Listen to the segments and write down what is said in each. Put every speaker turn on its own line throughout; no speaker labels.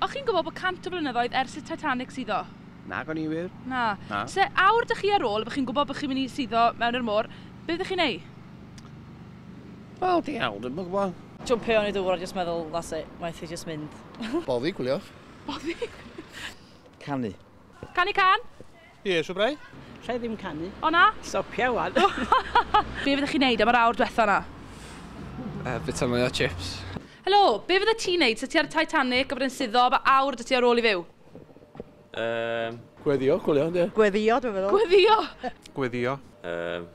O'ch chi'n gwybod bod 100 o flynyddoedd ers i'r Titanic suddo? Nag o'n i wir. Na. Na. Se awr 'da chi ar ôl, a bo' chi'n gwybod bo' chi'n mynd i suddo mewn i'r môr, be' fyddech chi'n neu'? Wel, diawl, dwi'm yn gwybod. Jwmpio i fewn i dŵr a jyst meddwl, that's it, waeth fi jyst mynd. Boddi, gwyliwch. Boddi? Canu. Canu cân? Ie, siwr brai? Lle i ddim canu. O na? Stopia wan. Be fydde chi'n neud am yr awr dwetha na? Uh, bita mwy o chips. Helo, be fydde ti'n neud sa ti ar y Titanic a bod yn suddo fy awr dy ti ar ôl i fyw? Um... Gweddio, gwylio, ie. Gweddio, dwi'n meddwl. Gweddio! Gweddio. Um...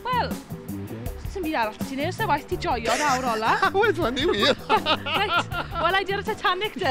Wel, sy'n byd arall beth ti'n ei, os na waith ti joio yn awr ola. Wel, dwi'n ni wir. Reit, wel, i di ar y Titanic de.